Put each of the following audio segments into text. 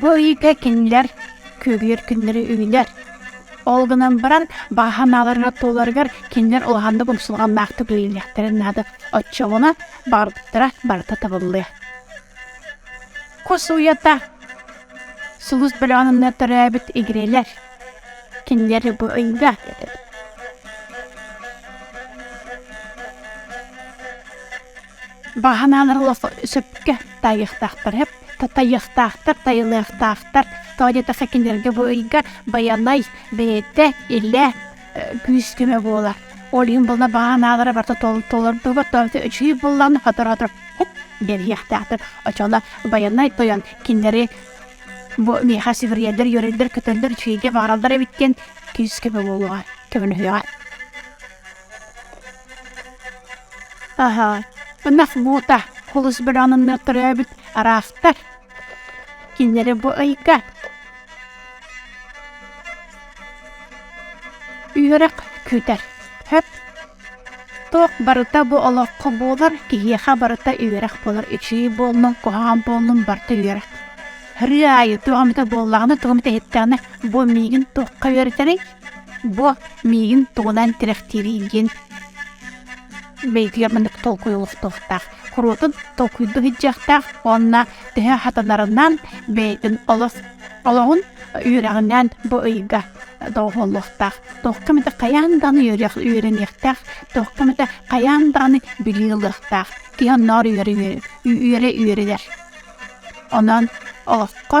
Бу ыйга кинилэр күөгүйэр күннэри үүнэр. Ол гынан баран бааһа нааларга туоларыгар кинилэр улахан да бумсулганнаахтык ыйылыахтарын наада. Оччоҕуна баардыктара барыта табыллыа. Кус уйата сулус бөлөҕүнэ төрөөбүт игирэлэр кинилэр бу ыйга Баһанаан олох сөпкө тайыахтаахтар. Тайыахтаахтар, тайылыахтаахтар. Тоҕо диэтэххэ кинилэргэ бу ыйга Байанай бэйэтэ илэ күүс-көмө буолар. Ол иһин булна баһааналара барыта толордубут, үчүгэй буллааны хоторотор хоп биэриэхтээхтэр. Очуонна Байанай тойон кинилэри бу миэхэ сиверийэлэр, үөрэллэр, көтөллөр, үчүгэйгэ баҕараллар эбит диэн күүс-көмө буолуоҕа, көмөлөһүөҕэ. Аһа, ынах муута олус быраҕынынна төрөөбүт араактар. Кинилэри бу ыйга үөрэх күүтэр. Сөп. Туох барыта бу олоххо буолар, киһиэхэ барыта үөрэх буолар. Ичии буоллун, куһаҕан буоллун, барыта үөрэх. Ырыы аайы туох эмитэ буоллаҕына, туох эмитэ иһиттэҕинэ, бу миигин туохха үөрэтэрий? Бу миигин тугунан тирэхтиирий диэн бэйэтигэр маннык толкуй олохтуохтаах. Куруотун толкуйда сылдьыахтаах уонна төһө хатанарынан бэйэтин олос олоҕун үөрэҕинэн бу ыйга доҕоһоллуохтаах. Туохха эмэтэ хайаан даҕаны үөрэх үөрэниэхтээх, туохха эмэтэ хайаан даҕаны билии ылыахтаах. Киһи оннооҕор үөрэ үөрэ үөрэ үөрэнэр. Онон олоххо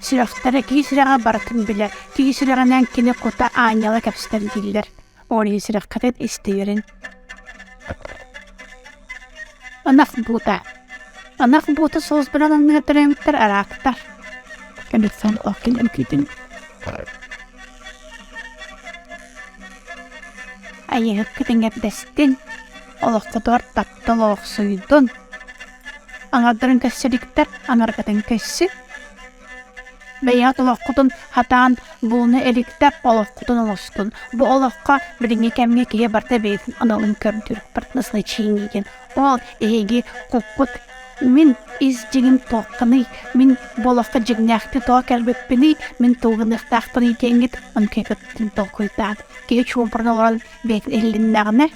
Сүрэхтэрэ киис үрэҕэ барытын билэ, киис үрэҕинэн кини кута аанньала кэбистэн дииллэр. Ол иһин сүрэххитин истиирин. Ынах буута. Ынах буута соус бөлөн анныгар төлөмүттэр араактар. Кэнниттэн окин эмкитин. Айыһыккытын эрдэстин. Олоххутугар таптал олохсуйдун. Аҥардарын кэссе диктэр, аҥарыкатын кэсси. Бэйэ толоххутун хатаан булуну эликтэр олоххутун олоскун. Бу олохха билиҥҥи кэмҥэ киһи барта бэйэтин аналын көрдүр партнерскай чииниитин. Ол эһиги куккут мин ис дьиҥим туохханый, мин бу олоххо дьиҥнээхтик тоҕо кэлбиппиний, мин тылгыныахтаахпыный диэҥҥит онкуйгыттын толкуйдаан. Киһи чуумпуран олорон бэйэтин иллиннэҕинэ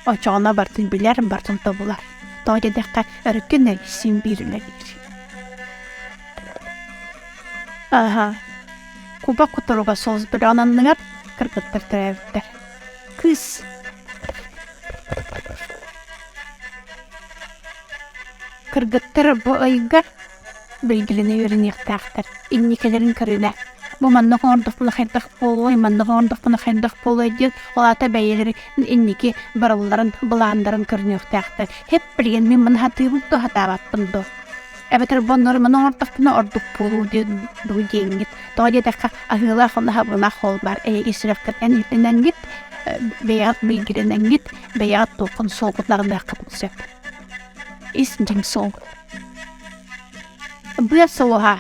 Очоҕуна бартын билэр, бартын тобулар. Тоҕо диэтэххэ, өрүккүн эргиссиин биир үлэлиир. Аһа, куба кутуруга соус бөлөҕүн анныгар кыргыттар төрөөбүттэр. Кыыс кыргыттар бу ыйга Билгилини үөрэниэхтээхтэр. Инникилэрин көрүнэ. Бу маннык оҥордохпуна хайдах буолуой, маннык оҥордохпуна хайдах буолуой диэн ол аата бэйэлэрин инники барылларын былаандарын көрүнүөхтээхтэр. Эп билигин мин маны сатыыбын да сатаабаппын дуо? Эбэтэр бу оннугар маны оҥордохпуна ордук буолуо диэн дуу диэҥҥит. Тоҕо диэтэххэ аһыылаах аһылаах ол баар эйиги сүрэххитинэн иһитинэҥҥит, бэйэҕит билгилинэҥҥит, бэйэҕит туоххун солкутаҕыныаххытын сөп. Ис дьиҥ суол. Быа сулуһа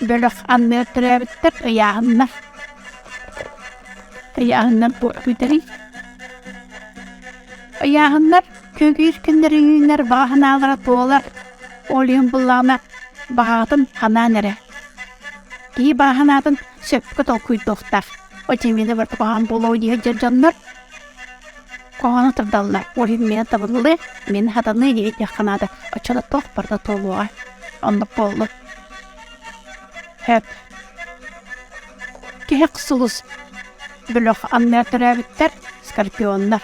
бөлөх анныгар төрөөбүттэр ыйааһыннар ыйааһыннар буола бүтэрий ыйааһыннар күөгүйүр күннэрилииннэр баҕа санаалара туолар ол иһин буллаҕына баҕаҕытын ханаан эрэ киһи баҕа санаатын сөпкө толкуйдуохтаах очевидно бары туһаан буолуо дии сылдьар дьоннор Хоһоону тардаллар. Ол иһин миэнэ табыллыы, миэнэ хатаныы диэбиттиэххэ наада. Оччоно туох барыта туолуоҕай. Оннук буоллун. Сөп. Киһик сулус. Бөлөх анныы төрөөбүттэр скорпионнар.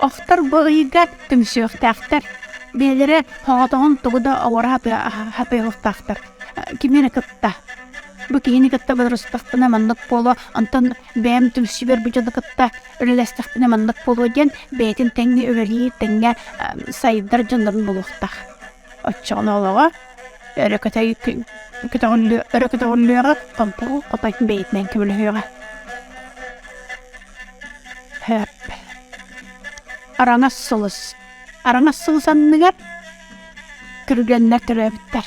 Охтор бу ыйга түмсүөхтээхтэр. Бэйэлэрэ хоҕотоҕун тугу да оҕоро хапыйылыктаахтар. Кими эрэ кытта. Бу киһини кытта бодоруостахпына маннык буолуо, онтон бэйэм түмсүбэр бу дьону кытта үлэлэстэхпинэ маннык буолуо диэн бэйэтин тэҥҥэ үлэлиир, тэҥҥэ сайдар дьоннорун булуохтаах. Оччоҕунаалаҕа эрэ кэтэй көтөҕүллүөҕэ, хомпуу хотой бэйэтинэн көмөлөһүөҕэ. Араҥас сулус. Араҥас сулус анныгар күргэннэр төрөөбүттэр.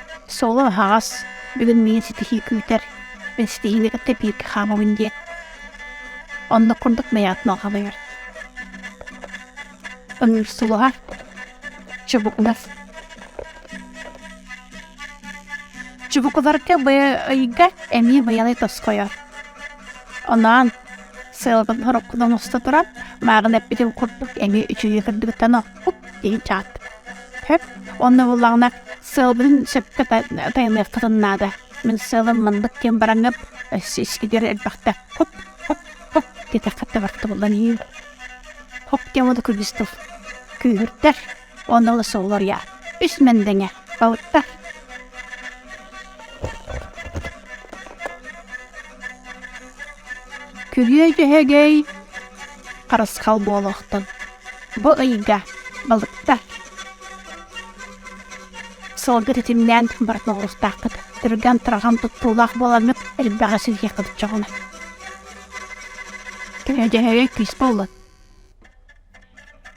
Суолум аһаҕас, бүгүн миигин ситиһии күүтэр. Мин ситиһиини кытта бииргэ хаамабын диэн. Онно курдук мэйэҕит малҕалыгар. Ыҥырсулуһа, чубукунас. Чубукуларга ыйга эмиэ быйалай тоскойор. Онаан сыалбын хороккутан уста туран, мааҕын эппитим курдук эмиэ үчүгэй кырдыгыттан хуп иичаат хөп онно буллаҕына сыалбын сөпкө тайыныаххытын наада мин сыалым мындык диэн бараҥҥыт сискитигэр элбэхтэ хуп хуп хуп диэтэххэ табахта буллан иир хоп диэн буолда күлүс тыл күүһүрдэр онно олус солоруйа үс мэндэҥэ балыктар күрүө дьөһөгөй харысхал буолуохтун. Бу ыйга балыкта сылга титимнээн бара тоҕуруктааххыт. Түргэн тұраган туттуулаах буоламмыт элбэҕи силиэ кылчоҕуна. Көнөдьөһөйө күүс буоллун.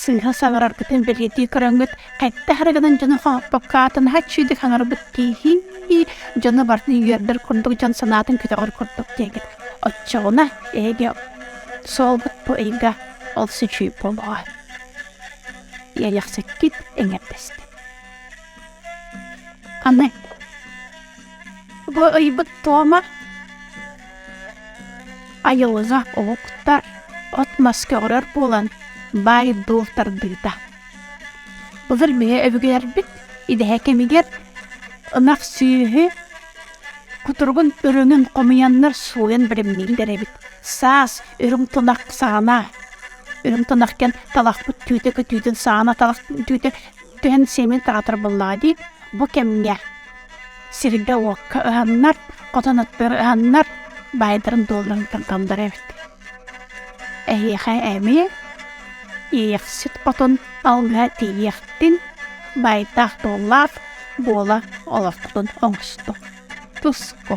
Сыыһа саҥараргытын бэлиэтии көрөҥҥүт хайдах эрэ гынан дьону хооппокко аатынаһа чиидик хаҥарбыт тииһии дьону барытын үөрдэр курдук дьон санаатын көтөҕөр курдук диэгит. Оччоҕуна эһиги суолгут бу ыйга олус үчүгэй буолуоҕа. Иэйэхсиккит эҥэрдэстин. Аны Бу ыйбыт туома айылҕа омуктар от-мас көҕөрөр буолан баай-дуол тардыыта. Былыр бэйэ өбүгэлэрбит идэһэ кэмигэр ынах сүөһү кутуругун өрүҥүн хомуйаннар сууйан бэлэмнииллэр эбит. Саас үрүҥ тунах саана, үрүҥ тунах кэн талахпыт түүтэ көтүүтүн саана талах түүтэ түһэн сиэмин таатар буоллаҕа дии, бу кэмҥэ сиргэ-уокка ыһаннар, хотон аттыгар ыһаннар, баайдарын-дуолларыттан талдар эбит. Эһиэхэ эмиэ иэхсит хотон алгыһа тиийиэхтин, баайдаах-дуоллаах буола олорхутун оҥосто. Туско.